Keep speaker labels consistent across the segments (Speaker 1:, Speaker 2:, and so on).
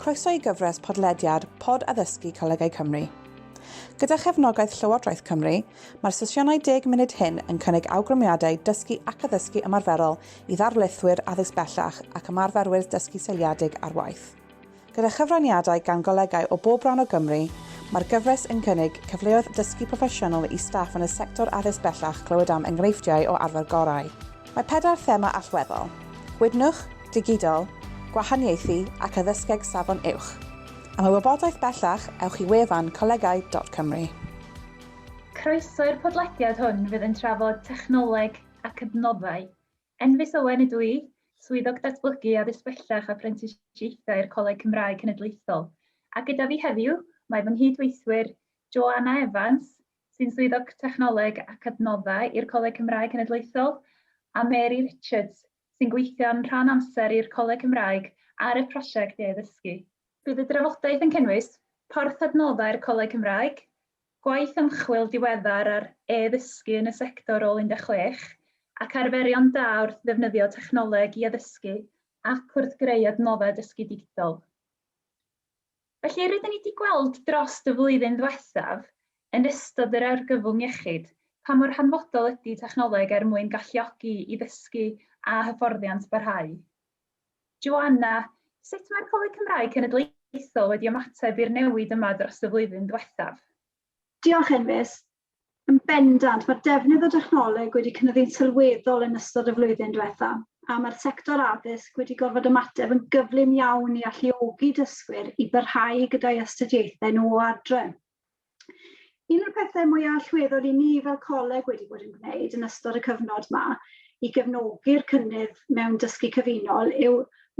Speaker 1: Croeso i gyfres podlediad Pod Addysgu Colegau Cymru. Gyda chefnogaeth Llywodraeth Cymru, mae'r sesiynau deg munud hyn yn cynnig awgrymiadau dysgu ac addysgu ymarferol i ddarlithwyr addysg bellach ac ymarferwyr dysgu seiliedig ar waith. Gyda chyfraniadau gan golegau o bob rhan o Gymru, mae'r gyfres yn cynnig cyfleoedd dysgu proffesiynol i staff yn y sector addysg bellach clywed am enghreifftiau o arfer gorau. Mae pedair thema allweddol, Gwydnwch, Digidol, Gwahaniaethu ac Addysgeg Safon Uwch. Am y wybodaeth bellach, ewch i wefan colegau.cymru.
Speaker 2: Croeso i'r podlediad hwn fydd yn trafod technoleg ac adnoddau Enfys Owen ydw i, Swyddog Datblygu Addysg Bellach a Phrentisiaethau i'r Coleg Cymraeg Cenedlaethol, a gyda fi heddiw mae fy nghyd-weithwyr Joanna Evans, sy'n Swyddog Technoleg ac Adnoddau i'r Coleg Cymraeg Cenedlaethol, a Mary Richards, sy'n gweithio'n rhan amser i'r Coleg Cymraeg ar y prosiect e-ddysgu. Bydd y drafodaeth yn cynnwys porth adnoddau'r Coleg Cymraeg, Gwaith ymchwil diweddar ar e-ddysgu yn y sector ôl 16, ac arferion da wrth ddefnyddio technoleg i addysgu ac wrth greu adnoddau dysgu digidol. Felly, rydyn ni 'di gweld drost y flwyddyn ddiwethaf, yn ystod yr argyfwng iechyd, pa mor hanfodol ydy technoleg er mwyn galluogi i ddysgu a hyfforddiant barhau. Joanna, Sut mae'r Coleg Cymraeg Cenedlaethol wedi ymateb i'r newid yma dros y flwyddyn ddiwethaf? Diolch,
Speaker 3: Enfys. Yn bendant, mae'r defnydd o dechnoleg wedi cynyddu'n sylweddol yn ystod y flwyddyn diwethaf, a mae'r sector addysg wedi gorfod ymateb yn gyflym iawn i alluogi dysgwyr i barhau gyda'i astudiaethau nhw o adre. Un o'r pethau mwy allweddol i ni fel coleg wedi bod yn gwneud yn ystod y cyfnod yma i gefnogi'r cynnydd mewn dysgu cyfunol yw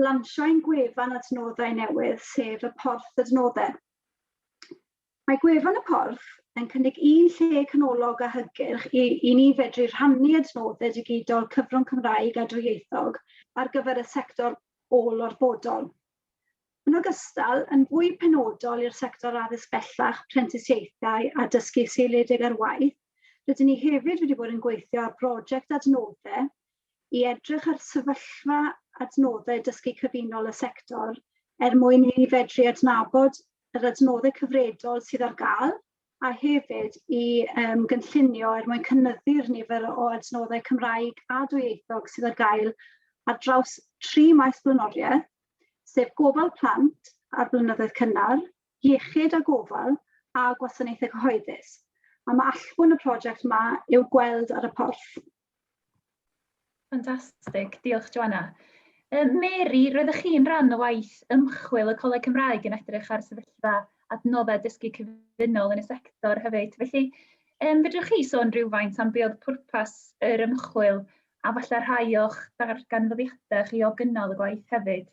Speaker 3: lansio ein gwefan adnoddau newydd, sef y Porth Adnoddau. Mae gwefan y Porth yn cynnig un lle canolog a hygyrch i, i ni fedru rhannu adnoddau digidol cyfrwng Cymraeg a dwyieithog ar gyfer y sector ôl-orfodol. Yn ogystal, yn fwy penodol i'r sector addysg bellach, prentisiaethau a dysgu seiliedig ar waith, rydyn ni hefyd wedi bod yn gweithio ar broject adnoddau i edrych ar sefyllfa adnoddau dysgu cyfunol y sector er mwyn i ni fedru adnabod yr adnoddau cyfredol sydd ar gael a hefyd i um, gynllunio er mwyn cynnyddu'r nifer o adnoddau Cymraeg a dwyieithog sydd ar gael ar draws tri maes blaenoriaeth, sef gofal plant a'r blynyddoedd cynnar, iechyd a gofal a gwasanaethau cyhoeddus. A mae allbwn y prosiect yma i'w gweld ar y porth.
Speaker 2: Fantastic, diolch Joanna. Yym Mary, roeddech chi'n rhan o waith ymchwil y Coleg Cymraeg yn edrych ar sefyllfa adnoddau dysgu cyfunol yn y sector hefyd. Felly, yym fedrwch chi sôn rhywfaint am be oedd pwrpas yr ymchwil a falle rhai o'ch darganfyddiadau chi o gynnal y gwaith hefyd?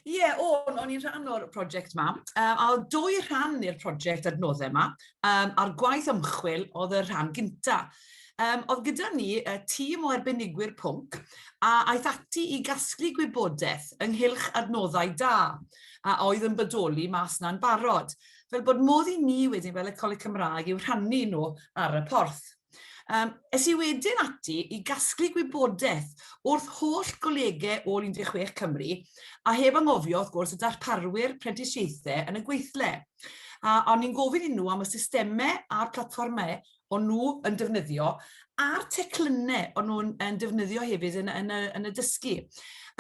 Speaker 2: Ie, o'n,
Speaker 4: o'n i'n rhan o'r prosiect yma, um, a oedd dwy rhan i'r prosiect adnoddau yma, um, a'r gwaith ymchwil oedd y rhan gynta. Um, oedd gyda ni uh, tîm o arbenigwyr pwnc a aeth ati i gasglu gwybodaeth ynghylch adnoddau da a oedd yn bodoli mas na'n barod, fel bod modd i ni wedyn fel y Coleg Cymraeg i'w rhannu nhw ar y porth. Um, es i wedyn ati i gasglu gwybodaeth wrth holl golegau o 16 Cymru, a heb angofio, wrth gwrs, y darparwyr prentisiaethau yn y gweithle. A o'n i'n gofyn i nhw am y systemau a'r platfformau o'n nhw yn defnyddio, a'r teclynnau o'n nhw'n yn defnyddio hefyd yn, yn, y, yn y dysgu.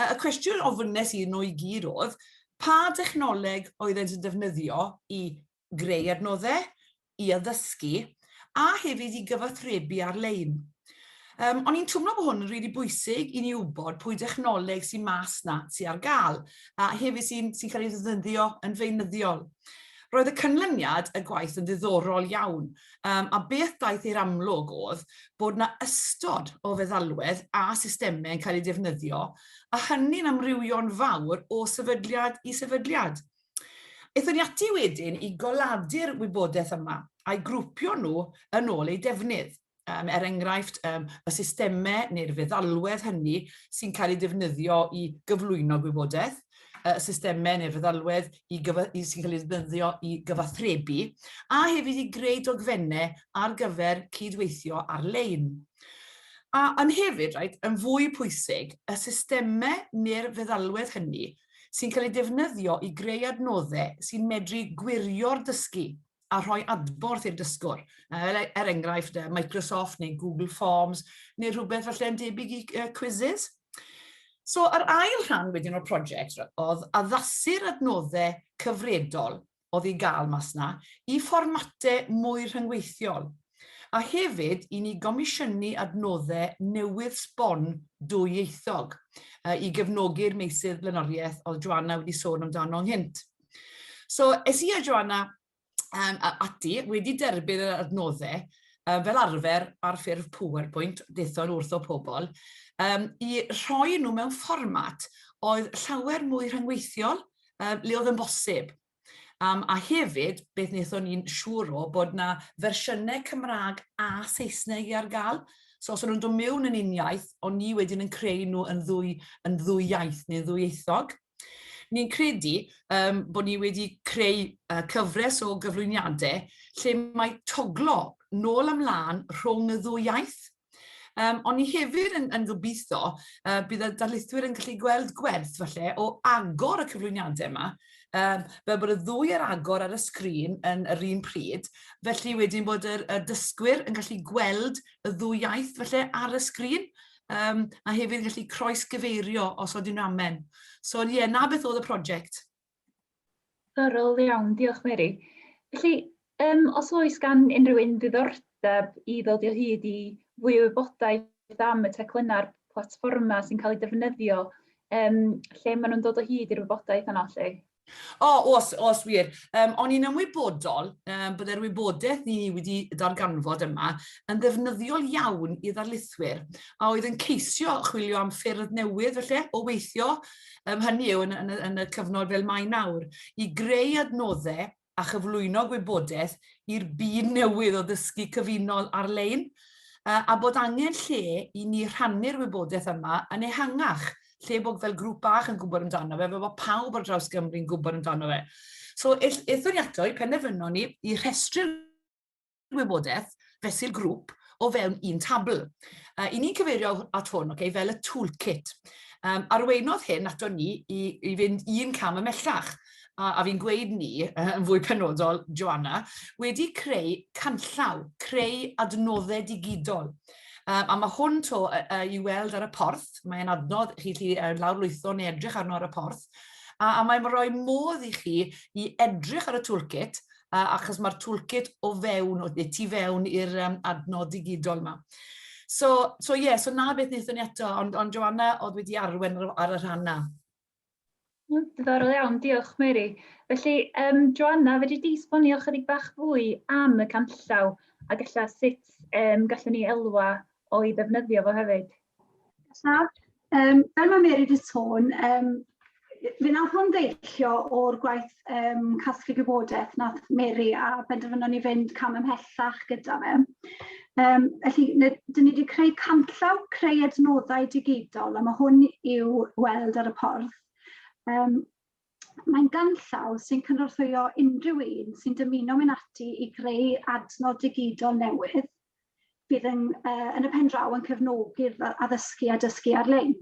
Speaker 4: Y cwestiwn ofynes i nhw i gyd oedd, pa dechnoleg oedd yn defnyddio i greu adnoddau i addysgu a hefyd i gyfathrebu ar-lein. Um, o'n i'n twmlo bod hwn yn rili really bwysig i ni wybod pwy dechnoleg sy'n mas na, sy'n ar gael, a hefyd sy'n sy cael ei ddefnyddio yn feinyddol. Roedd y cynlyniad y gwaith yn ddiddorol iawn, um, a beth daeth i'r amlwg oedd bod na ystod o feddalwedd a systemau yn cael eu defnyddio, a hynny'n amrywio'n fawr o sefydliad i sefydliad. Aethon ni ati wedyn i goladu'r wybodaeth yma a'i grwpio nhw yn ôl eu defnydd, um, er enghraifft um, y systemau neu'r feddalwedd hynny sy'n cael ei defnyddio i gyflwyno gwybodaeth, y systemau neu'r feddalwedd i i, sy'n cael ei ddefnyddio i gyfathrebu, a hefyd i greu dogfennau ar gyfer cydweithio ar-lein. A yn hefyd, right, yn fwy pwysig, y systemau neu'r feddalwedd hynny sy'n cael ei defnyddio i greu adnoddau sy'n medru gwirio'r dysgu a rhoi adborth i'r dysgwr. Er, er enghraifft, Microsoft neu Google Forms neu rhywbeth falle yn debyg i uh, quizzes. So, yr ail rhan wedyn o'r prosiect oedd addasu'r adnoddau cyfredol oedd i gael mas 'na, i fformatau mwy rhyngweithiol, a hefyd i ni gomisiynu adnoddau newydd sbon dwyieithog i gefnogi'r meysydd blaenoriaeth oedd Joanna wedi sôn amdano ynghynt. So, es i a Joanna um, ati, wedi derbyn yr adnoddau, um, fel arfer ar ffurf PowerPoint, dethon wrth o pobl, um, i rhoi nhw mewn fformat oedd llawer mwy rhyngweithiol, um, le oedd yn bosib. Um, a hefyd, beth wnaethon ni'n siŵr o bod na fersiynau Cymraeg a Saesneg i ar gael. So os o'n nhw'n dod mewn yn un iaith, ond ni wedyn yn creu nhw yn ddwy, yn ddwy iaith neu ddwy eithog. Ni'n credu um, bod ni wedi creu uh, cyfres o gyflwyniadau lle mae toglo nôl ymlaen rhwng y ddwy iaith. Um, ond ni hefyd yn, yn gobeithio uh, bydd y darlithwyr yn gallu gweld gwerth falle o agor y cyflwyniadau yma, um, fel bod y ddwy ar agor ar y sgrin yn yr un pryd, felly wedyn bod y, y dysgwyr yn gallu gweld y ddwy iaith falle ar y sgrin, um, a hefyd yn gallu croes gyfeirio os oedden nhw'n amen. So ie, na beth oedd y prosiect. Diddorol
Speaker 2: iawn, diolch Mary. Felly, um, os oes gan unrhyw un ddiddordeb i ddod o hyd i fwy o wybodaeth am y teclynnau'r platfformau sy'n cael eu defnyddio, um, lle maen nhw'n dod o hyd i'r wybodaeth yna lle? O, oh, os,
Speaker 4: os wir. Um, o'n i'n ymwybodol um, byddai'r wybodaeth ni wedi darganfod yma yn ddefnyddiol iawn i ddarlithwyr a oedd yn ceisio chwilio am ffyrdd newydd felly o weithio um, hynny yw yn, yn, yn y cyfnod fel mae nawr, i greu adnoddau a chyflwyno gwybodaeth i'r byd newydd o ddysgu cyfunol ar-lein, a bod angen lle i ni rhannu'r wybodaeth yma yn ehangach, lle bod fel grŵp bach yn gwybod amdano fe, fe bod pawb ar draws Gymru'n gwybod amdano fe. So, ethon ni ato i penderfynon ni i rhestru'r wybodaeth fesul grŵp o fewn un tabl. Uh, I ni'n cyfeirio at hwn okay, fel y toolkit. Um, arweinodd hyn ato ni i, i fynd un cam ymellach a, a fi'n gweud ni, uh, yn fwy penodol, Joanna, wedi creu canllaw, creu adnoddau digidol. Um, a mae hwn to uh, uh, i weld ar y porth, mae'n adnodd chi chi uh, lawrlwytho neu edrych arno ar y porth, a, a mae'n rhoi modd i chi i edrych ar y toolkit uh, achos mae'r toolkit o fewn, o, tu fewn i'r um, adnod digidol yma. So, so ie, yeah, so na beth wnaethon ni eto, ond, ond Joanna oedd wedi arwen ar y rhan na.
Speaker 2: Diddorol iawn, diolch Mary. Felly, um, Joanna, fedri di sbonio chydig bach fwy am y canllaw a gallai sut um, gallwn ni elwa o'i ddefnyddio fo hefyd? Nesaf,
Speaker 3: um, fel mae Mary wedi sôn, um, fe nath hwn ddeillio o'r gwaith um, casglu gwybodaeth nath Mary a benderfynon ni fynd cam ymhellach gyda fe. Um, felly, dyn ni wedi creu canllaw creu adnoddau digidol a mae hwn i'w weld ar y porth. Um, Mae'n ganllaw sy'n cynorthwyo unrhyw un sy'n dymuno mynd ati i greu adnod digidol newydd bydd yn, uh, yn y pen draw yn cefnogi'r addysgu a dysgu ar-lein.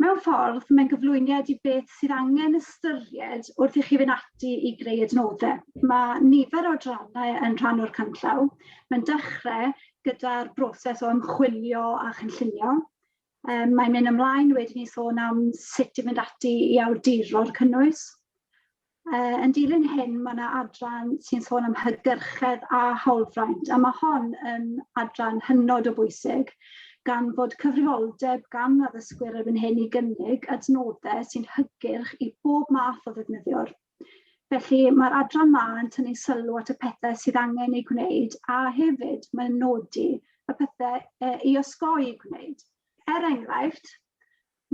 Speaker 3: Mewn ffordd, mae'n gyflwyniad i beth sydd angen ystyried wrth i chi fynd ati i greu adnoddau. Mae nifer o drannau yn rhan o'r canllaw. Mae'n dechrau gyda'r broses o ymchwilio a chynllunio, Um, mae'n mynd ymlaen wedyn i sôn am sut i mynd ati i awduro'r cynnwys. Uh, yn dilyn hyn, mae yna adran sy'n sôn am hygyrchedd a hawlfraint, a mae hon yn adran hynod o bwysig, gan fod cyfrifoldeb gan addysgwyr erbyn hyn i gynnig adnoddau sy'n hygyrch i bob math o ddefnyddiwr. Felly, mae'r adran ma yn tynnu sylw at y pethau sydd angen ei gwneud a hefyd mae'n nodi y pethau e, i osgoi ei gwneud. Er enghraifft,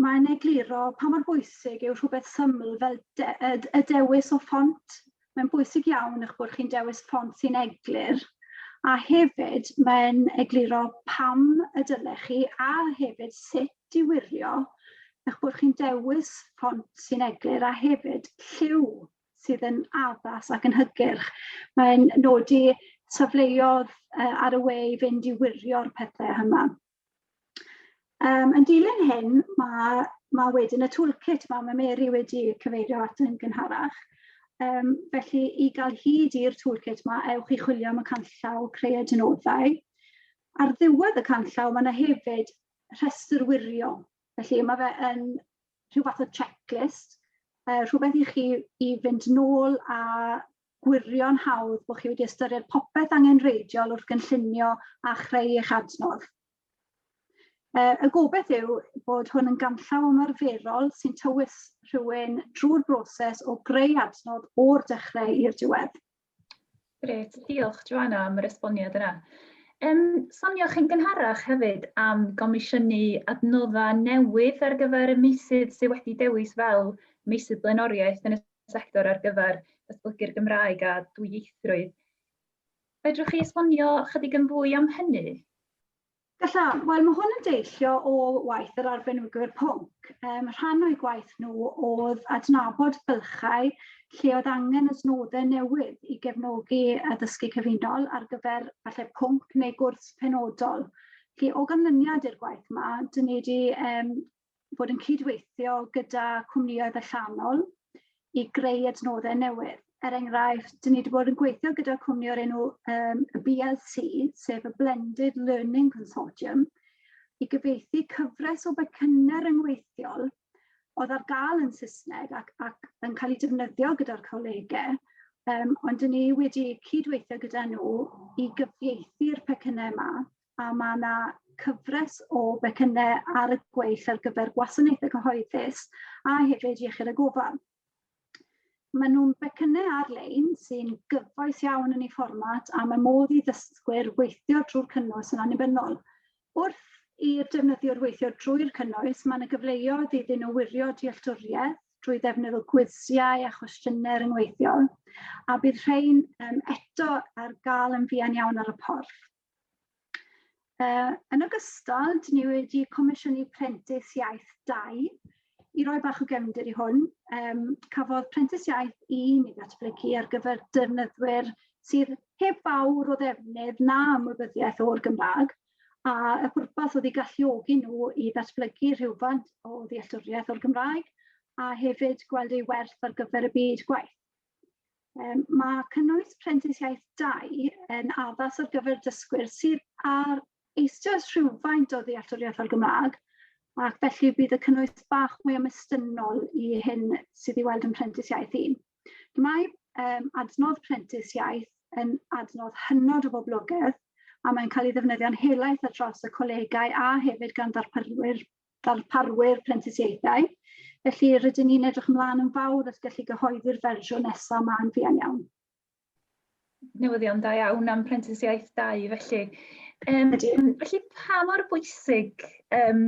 Speaker 3: mae'n egluro pa mor bwysig yw rhywbeth syml fel de, y dewis o ffont. Mae'n bwysig iawn eich bod chi'n dewis ffont sy'n eglur a hefyd mae'n egluro pam y dylech chi a hefyd sut diwirio eich bod chi'n dewis ffont sy'n eglur a hefyd lliw sydd yn addas ac yn hygyrch. Mae'n nodi safleodd uh, ar y we i fynd i wirio'r pethau yma. Um, yn dilyn hyn, mae, mae wedyn y toolkit mae, mae Mary wedi cyfeirio at yn gynharach. Um, felly, i gael hyd i'r toolkit mae, ewch i chwilio am y canllaw creu adnoddau. Ar ddiwedd y canllaw, mae yna hefyd rhestr wirion. Felly mae fe yn rhyw fath o checklist, uh, rhywbeth i chi i fynd nôl a gwirio'n hawdd bod chi wedi ystyried popeth angen reidiol wrth gynllunio a chreu eich adnodd. Uh, y gobeith yw bod hwn yn ganllaw ymarferol sy'n tywys rhywun drwy'r broses o greu adnodd o'r dechrau i'r diwedd. Grêt,
Speaker 2: diolch Joana am yr esboniad yna. Yym, sonioch chi'n gynharach hefyd am gomisiynu adnoddau newydd ar gyfer y meysydd sydd wedi dewis fel meysydd blaenoriaeth yn y sector ar gyfer datblygu'r Gymraeg a dwyieithrwydd. Fedrwch chi esbonio chydig yn fwy am hynny? Galla,
Speaker 3: wel mae hwn yn deillio o waith yr arbenigwr pwnc. Um, rhan o'i gwaith nhw oedd adnabod bylchau lle oedd angen ysnodau newydd i gefnogi addysgu cyfunol ar gyfer falle pwnc neu gwrs penodol. Felly, o ganlyniad i'r gwaith yma, dyn ni wedi um, bod yn cydweithio gyda cwmnïoedd allanol i greu adnoddau newydd. Er enghraifft, dyn ni wedi bod yn gweithio gyda cwmni o'r enw um, BLC, sef y Blended Learning Consortium, i gyfeithi cyfres o becynau ryngweithiol oedd ar gael yn Saesneg ac, ac yn cael ei defnyddio gyda'r colegau, um, ond dyn ni wedi cydweithio gyda nhw i gyfieithu'r pecynnau yma a mae yna cyfres o becynnau ar y gweill ar gyfer gwasanaethau cyhoeddus a hefyd iechyd a gofal. Maen nhw'n becynnau ar-lein sy'n gyfoes iawn yn ei fformat a mae modd i ddysgwyr weithio drwy'r cynnwys yn annibynnol. Wrth i'r defnyddiwr weithio drwy'r cynnwys, mae yna gyfleoedd iddyn nhw wirio dealltwriaeth drwy ddefnydd o gwisiau a chwestiynau ryngweithiol, a bydd rhain um, eto ar gael yn fuan iawn ar y porth. Uh, yn ogystal, dyn ni wedi comisiynu prentis iaith 2 i roi bach o gefnder i hwn. Um, cafodd prentis iaith 1 i ddatblygu ar gyfer defnyddwyr sydd heb fawr o ddefnydd na ymwybyddiaeth o'r Gymraeg, a y pwrpas oedd i galluogi nhw i ddatblygu rhywfaint o ddealltwriaeth o'r Gymraeg a hefyd gweld ei werth ar gyfer y byd gwaith. Mae cynnwys prentisiaeth 2 yn addas ar gyfer dysgwyr sydd ar eisoes rhywfaint o ddealltwriaeth o'r Gymraeg, ac felly bydd y cynnwys bach mwy ymestynol i hyn sydd i weld yn prentisiaeth 1. Mae um, adnodd prentisiaeth yn adnodd hynod o boblogaidd a mae'n cael ei ddefnyddio'n helaeth ar draws y colegau a hefyd gan ddarparwyr ddarparwyr prentisiaethau, felly rydyn ni'n edrych ymlaen yn fawr at gallu gyhoeddi'r fersiwn nesaf ma'n fuan iawn.
Speaker 2: Newyddion da iawn am prentisiaeth dau felly. Um, felly pa mor bwysig um,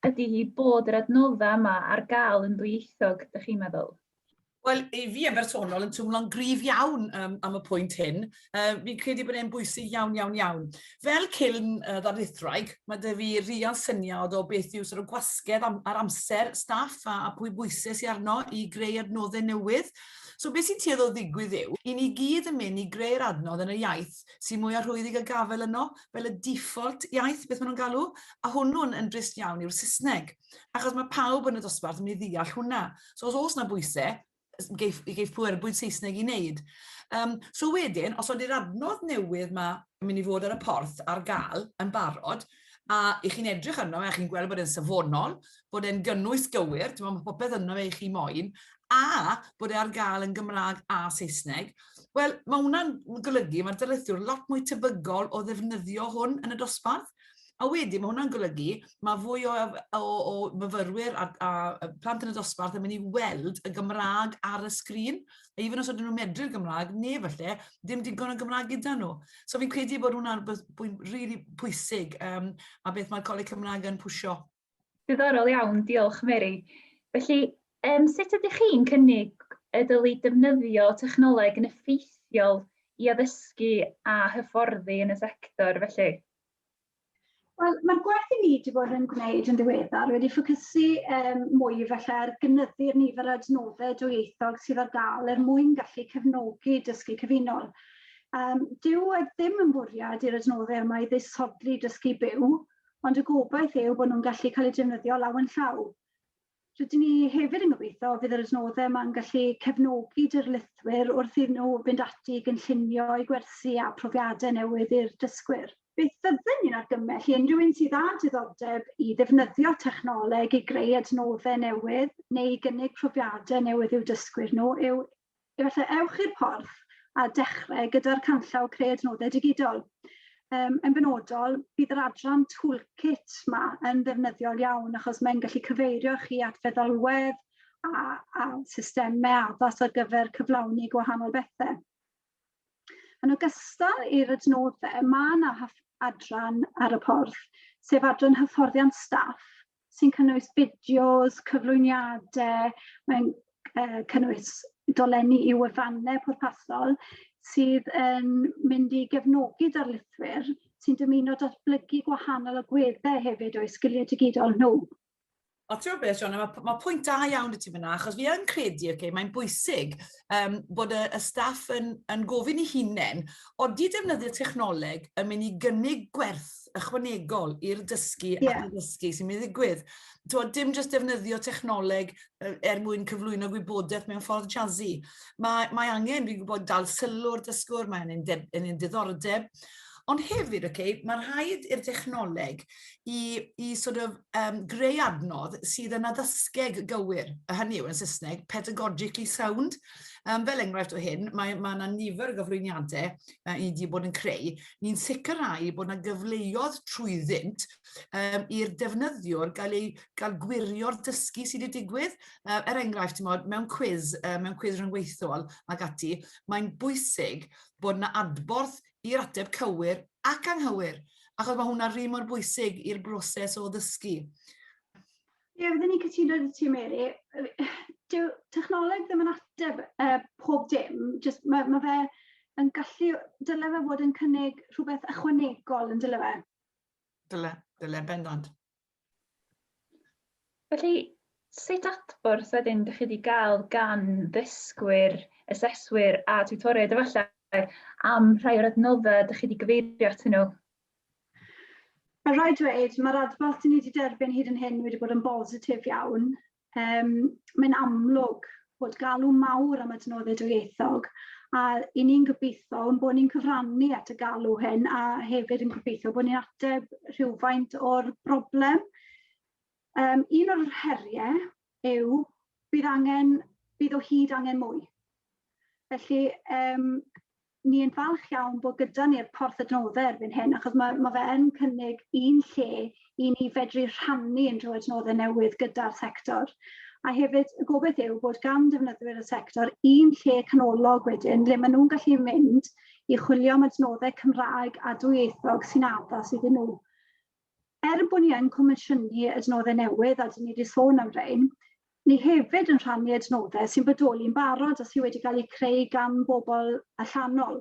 Speaker 2: ydy hi bod yr adnoddau yma ar gael yn ddwyieithog, ydych chi'n meddwl? Wel, i
Speaker 4: fi yn bersonol yn twmlo'n gryf iawn um, am y pwynt hyn. Uh, fi'n credu bod e'n bwysig iawn, iawn, iawn. Fel ciln uh, ddarlithraig, mae dy fi rian syniad o beth yw sort of gwasgedd am, ar amser staff a, a pwy bwysau sy'n arno i greu adnoddau newydd. So beth sy'n tueddol ddigwydd yw, i ni gyd yn mynd i greu'r adnodd yn y iaith sy'n mwy arhwyddedig a gafel yno, fel y default iaith, beth maen nhw'n galw, a hwnnw'n yn drist iawn yw'r Saesneg. Achos mae pawb yn y dosbarth yn mynd i ddeall hwnna. So os oes na bwysau, geif, geif pwer bwyd Saesneg i wneud. Um, so wedyn, os ydy'r adnodd newydd mae yn mynd i fod ar y porth ar gael yn barod, a i chi'n edrych arno fe, a chi'n gweld bod e'n safonol, bod e'n gynnwys gywir, ti'n meddwl, popeth yno fe i chi moyn, a bod e ar gael yn Gymraeg a Saesneg, wel, mae hwnna'n golygu, mae'r dylethwr lot mwy tebygol o ddefnyddio hwn yn y dosbarth, A wedyn, mae hwnna'n golygu, mae fwy o, o, o myfyrwyr a, a plant yn y dosbarth yn mynd i weld y Gymraeg ar y sgrin, a even os ydyn nhw'n medru'r Gymraeg, neu falle, dim digon o Gymraeg gyda nhw. So fi'n credu bod hwnna'n bwynt rili really pwysig, um, a beth mae'r Coleg Cymraeg yn pwysio. Diddorol
Speaker 2: iawn, diolch Mary. Felly, um, sut ydych chi'n cynnig y dylu defnyddio technoleg yn effeithiol i addysgu a hyfforddi yn y sector felly?
Speaker 3: Wel, mae'r gwaith i ni wedi bod yn gwneud yn ddiweddar wedi ffocysu um, mwy felly ar gynyddu'r nifer o adnoddau dwyieithog sydd ar gael er mwyn gallu cefnogi dysgu cyfunol. Um, dyw e ddim yn bwriad i'r adnoddau yma i ddisodli dysgu byw, ond y gobaith yw bod nhw'n gallu cael eu defnyddio lawen llaw. Rydyn ni hefyd yn gobeithio fydd yr adnoddau yma'n gallu cefnogi dirlithwyr wrth iddyn nhw fynd ati i gynllunio eu gwersi a profiadau newydd i'r dysgwyr. Beth fyddwn ni'n argymell i unrhyw un sydd â diddordeb i ddefnyddio technoleg i greu adnoddau newydd neu i gynnig profiadau newydd i'w dysgwyr nhw yw Efallai ewch i'r porth a dechrau gyda'r canllaw Creu Adnoddau Digidol. Um, yn benodol, bydd yr adran Toolkit ma yn ddefnyddiol iawn achos mae'n gallu cyfeirio chi at feddalwedd a, a systemau addas ar gyfer cyflawni gwahanol bethau. Yn ogystal i'r adnoddau, mae yna adran ar y porth, sef adran hyfforddiant staff, sy'n cynnwys fideos, cyflwyniadau, mae'n uh, cynnwys dolenni i wefannau pwrpasol sydd yn mynd i gefnogi darlithwyr sy'n dymuno datblygu gwahanol agweddau hefyd o'i sgiliau digidol nhw. O, ti'n
Speaker 4: beth, John, mae, mae pwynt da iawn y ti fyna, achos fi yn credu, okay, mae'n bwysig um, bod y, y staff yn, yn gofyn i hunain, oeddi defnyddio technoleg yn mynd i gynnig gwerth ychwanegol i'r dysgu yeah. ac i'r dysgu sy'n mynd i ddigwydd. Twa, dim jyst defnyddio technoleg er mwyn cyflwyno gwybodaeth mewn ffordd jazzy. Mae, mae angen, fi'n gwybod, dal sylw'r dysgwr, mae angen, angen diddordeb. Ond hefyd, okay, mae rhaid i'r dechnoleg i, i sort of, um, greu adnodd sydd yn addysgeg gywir, a hynny yw yn Saesneg, pedagogically sound. Um, fel enghraifft o hyn, mae yna ma nifer o gyflwyniadau uh, i wedi bod yn creu, ni'n sicrhau bod yna gyfleoedd trwyddynt um, i'r defnyddiwr gael ei gael gwirio'r dysgu sydd wedi digwydd. Uh, er enghraifft, mod, mewn cwiz, uh, mewn cwiz rhyngweithiol ac ati, mae'n bwysig bod yna adborth i'r ateb cywir ac anghywir, achos mae hwnna'n rhy mor bwysig i'r broses o ddysgu.
Speaker 3: Ie, fydden i'n cytuno gyda ti, Mary. Dyw technoleg ddim yn ateb uh, pob dim, just mae ma fe yn gallu, dyle fe fod yn cynnig rhywbeth ychwanegol yn dyle fe. Dyle,
Speaker 4: dyle bendant.
Speaker 2: Felly, sut adborth wedyn ydych chi wedi cael gan ddysgwyr, aseswyr a tutoriaid efallai am rhai o'r adnoddau ydych chi wedi gyfeirio atyn nhw?
Speaker 3: Mae'n rhaid dweud, mae'r adborth dyn ni wedi derbyn hyd yn hyn wedi bod yn bositif iawn. Um, mae'n amlwg bod galw mawr am adnoddau dwyieithog a i ni'n gobeithio yn bod ni'n cyfrannu at y galw hyn a hefyd yn gobeithio bod ni'n ateb rhywfaint o'r broblem. Um, un o'r heriau yw bydd angen bydd o hyd angen mwy. Felly um, ni'n falch iawn bod gyda ni'r porth adnoddau erbyn hyn, achos mae, mae fe yn cynnig un lle i ni fedru rhannu unrhyw adnoddau newydd gyda'r sector. A hefyd, y gobaith yw bod gan defnyddwyr y sector un lle canolog wedyn lle maen nhw'n gallu mynd i chwilio am adnoddau Cymraeg a dwyieithog sy'n addas iddyn nhw. Er bod ni yn comisiynu adnoddau newydd, a dyn ni wedi sôn am rein, ni hefyd yn rhannu adnoddau sy'n bodoli'n barod a sydd wedi cael eu creu gan bobl allanol.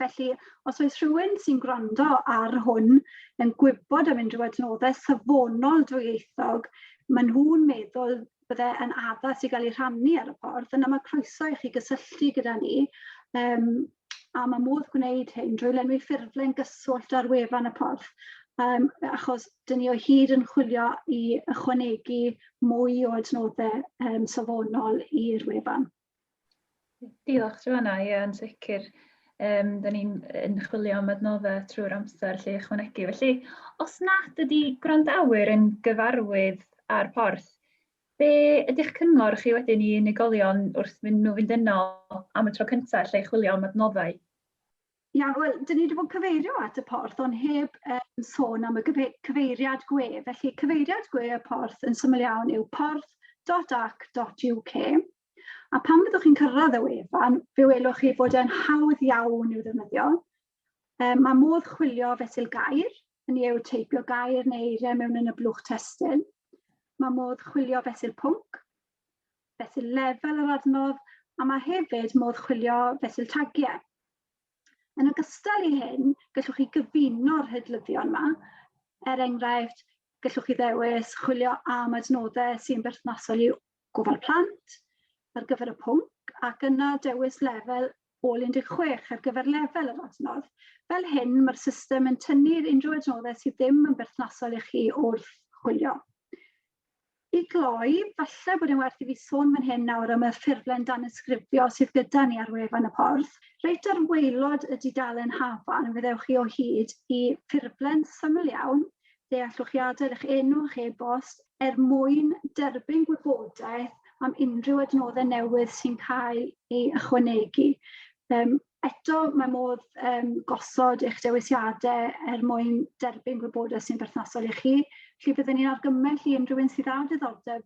Speaker 3: Felly, os oes rhywun sy'n gwrando ar hwn yn gwybod am unrhyw adnoddau safonol dwyieithog, maen nhw'n meddwl bydde yn addas i gael ei rhannu ar y ffordd, yna mae croeso i chi gysylltu gyda ni um, a mae modd gwneud hyn drwy lenwi ffurflen gyswllt ar wefan y porth, um, achos dyn ni o hyd yn chwilio i ychwanegu mwy o adnoddau um, safonol i'r wefan.
Speaker 2: Diolch, Joanna. Ie, yn sicr. Um, da ni'n yn chwilio am adnoddau trwy'r amser lle ychwanegu. Felly, os nad ydy gwrandawyr yn gyfarwydd â'r porth, Be ydy'ch cyngor chi wedyn i unigolion wrth mynd nhw fynd yno am y tro cyntaf lle i chwilio am adnoddau? Iawn,
Speaker 3: wel, dyn ni wedi bod yn cyfeirio at y porth, ond heb um, sôn am y cyfeiriad gwe. Felly, cyfeiriad gwe y porth yn syml iawn yw porth.ac.uk. A pan fyddwch chi'n cyrraedd y wefan, fe welwch chi fod e'n hawdd iawn i'w ddefnyddio, Um, mae modd chwilio fesul gair, yn ei teipio gair neu eiriau mewn yn y blwch testyn. Mae modd chwilio fesul pwnc, fesul lefel yr adnodd, a mae hefyd modd chwilio fesul tagiau. Yn ogystal i hyn, gallwch chi gyfuno'r hydlyddion yma. Er enghraifft, gallwch chi ddewis chwilio am adnoddau sy'n berthnasol i gofal plant ar gyfer y pwnc ac yna dewis lefel Gall 16 ar gyfer lefel yr adnodd. Fel hyn, mae'r system yn tynnu'r unrhyw adnoddau sydd ddim yn berthnasol i chi wrth chwilio. I gloi, falle bod yn werth i fi sôn fan hyn nawr am y ffurflen danysgrifio sydd gyda ni ar wefan y porth. Reit ar waelod y dudalen hafan, fe ddewch chi o hyd i ffurflen syml iawn dealltwriadau eich enw a'ch e-bost er mwyn derbyn gwybodaeth am unrhyw adnoddau newydd sy'n cael ei ychwanegu. Um, eto, mae modd um, gosod eich dewisiadau er mwyn derbyn gwybodaeth sy'n berthnasol i chi. Felly byddwn ni'n argymell i unrhyw un sydd â diddordeb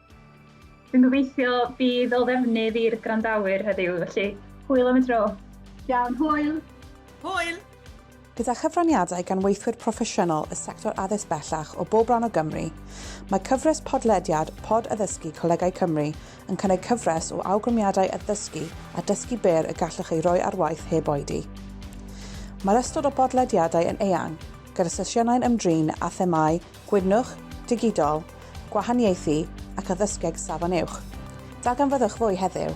Speaker 4: Dwi'n
Speaker 2: gobeithio bydd o ddefnydd i'r gwrandawyr heddiw, felly hwyl am y tro. Iawn,
Speaker 3: hwyl!
Speaker 4: Hwyl! Gyda
Speaker 1: chyfraniadau gan weithwyr proffesiynol y sector addysg bellach o bob rhan o Gymru, mae cyfres podlediad Pod Addysgu Colegau Cymru yn cynnig cyfres o awgrymiadau addysgu a dysgu byr y gallwch eu rhoi ar waith heb oedi. Mae'r ystod o bodlediadau yn eang, gyda sesiynau'n ymdrin â themâu Gwydnwch, Digidol, Gwahaniaethu ac Addysgeg Safon Uwch. Darganfyddwch fwy heddiw!